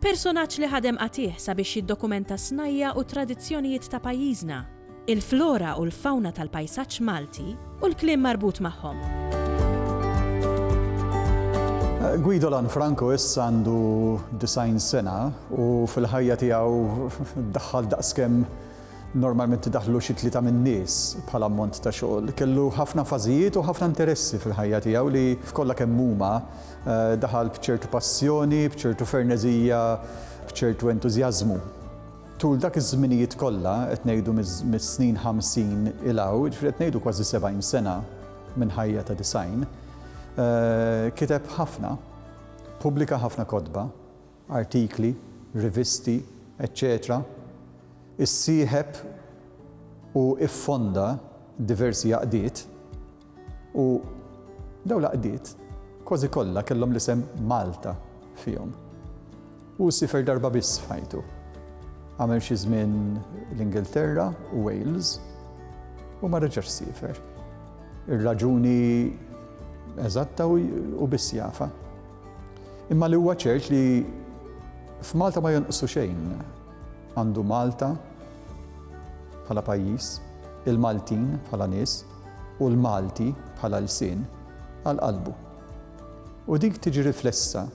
Personaġġ li ħadem qatigħ sabiex jiddokumenta s-snajja' u t-tradizzjonijiet ta' pajjiżna, il-flora u l-fawna tal-pajsaġġ Malti u l-kliem marbut magħhom. Guido Lanfranco issa għandu 90 sena u fil-ħajja tiegħu daħħal daqskemm normalment daħlu xi tlieta min-nies bħala ammont ta' xogħol. Kellu ħafna fażijiet u ħafna interessi fil-ħajja tiegħu li f'kollha kemm huma Daħal b'ċertu passjoni, b'ċertu ferneżija, b'ċertu entużjażmu. Tul dak iż-żminijiet kollha, qed ngħidu mis-snin ħamsin 'il hawn, jiġifieri qed ngħidu kważi sebgħin sena minn ħajja ta' disgħin, kiteb ħafna, pubblika ħafna kotba, artikli, rivisti, eċċetera Issieħeb u ffonda diversi għaqdiet u dawn l-għaqdiet kważi kollha kellhom l-isem Malta fihom. Hu siefer darba biss f'ħajtu. Għamel xi żmien l-Ingilterra u Wales u ma reġax siefer. Ir-raġuni eżatta u biss jafa. Imma li huwa ċert li f'Malta ma jonqsu xejn. Għandu Malta bħala pajjiż, il-Maltin bħala nies u l-Malti bħala lsien għal qalbu. U dik tiġi riflessa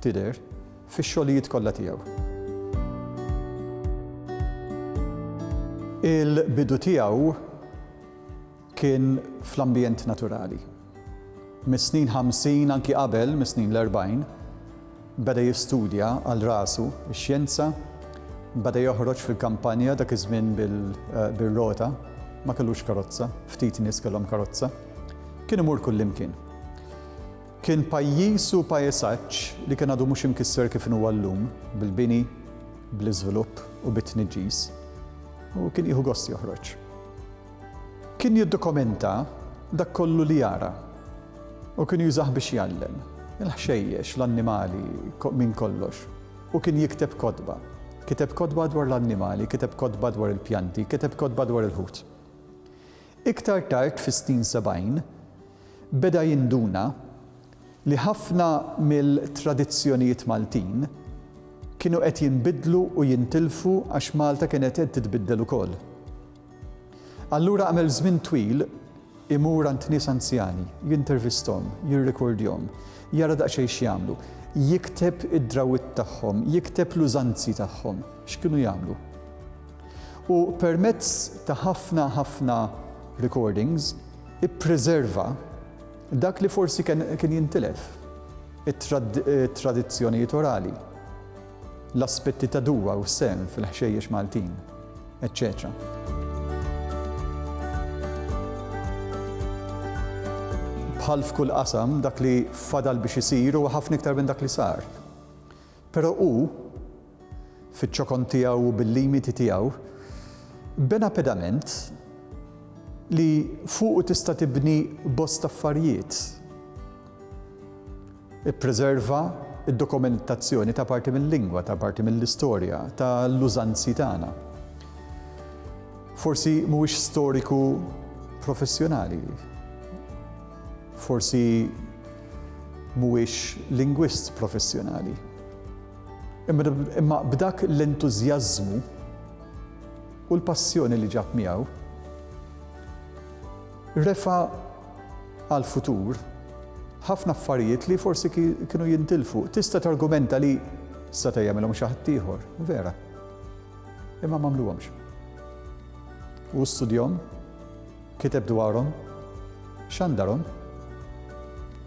tidher fix-xogħlijiet kollha tiegħu. Il-bidu tiegħu Kien fl-ambjent naturali. Mis-snin ħamsin, anki qabel, mis-snin l-erbgħin, beda jistudja għal rasu x-xjenza, beda joħroġ fil-kampanja, dak iż-żmien bir-rota, ma kellux karozza, ftit nies kellhom karozza. Kien imur kullimkien. Kien pajjiż u pajsaġġ li kien għadu mhux imkisser kif inhu llum, bil-bini, bl-iżvilupp u bit-tniġġis, u kien jieħu gost joħroġ. Kien jiddokumenta dak kollu li jara u kien jużah biex jgħallem, il-ħxejjex, l-annimali, minn kollox. U kien jikteb kotba. Kiteb kotba dwar l-annimali, kiteb kotba dwar il-pjanti, kiteb kotba dwar il-ħut. Iktar tard fis-snin sebgħin, beda jinduna li ħafna mill-tradizzjonijiet Maltin kienu qed jinbidlu u jintilfu għax Malta kienet qed titbiddel ukoll. Allura għamel żmien twil imur għand nies anzjani, jintervisthom, jirrikordjhom, jara daqsxejn x'jagħmlu, jikteb id-drawwiet tagħhom, jikteb l-użanzi tagħhom, x'kienu jagħmlu. U permezz ta' ħafna ħafna recordings ippreserva dak li forsi kien jintilef, it-tradizzjonijiet orali. l-aspetti ta' dua u s-sehem fil-ħxejjex Maltin, eċċetera. Bħal f'kull qasam, dak li fadal biex isir huwa ħafna iktar minn dak li sar. Però hu, fiċ-ċokon tiegħu u bil-limiti tiegħu, bena pedament li fuqu tista' tibni bosta affarijiet Ippreserva d-dokumentazzjoni ta' parti mil-lingwa, ta' parti mill-istorja, ta' l-użanzi tagħna. Forsi mhuwiex storiku professjonali. Forsi mhuwiex lingwist professjonali. Imma b'dak l-entużjażmu u l-passjoni li ġab miegħu, Refa' għall-futur ħafna affarijiet li forsi kienu jintilfu. Tista' targumenta li seta' jagħmilhom xi ħadd ieħor, vera. Imma m'għamluhomx. Hu studjahom, kiteb dwarhom, xandarhom.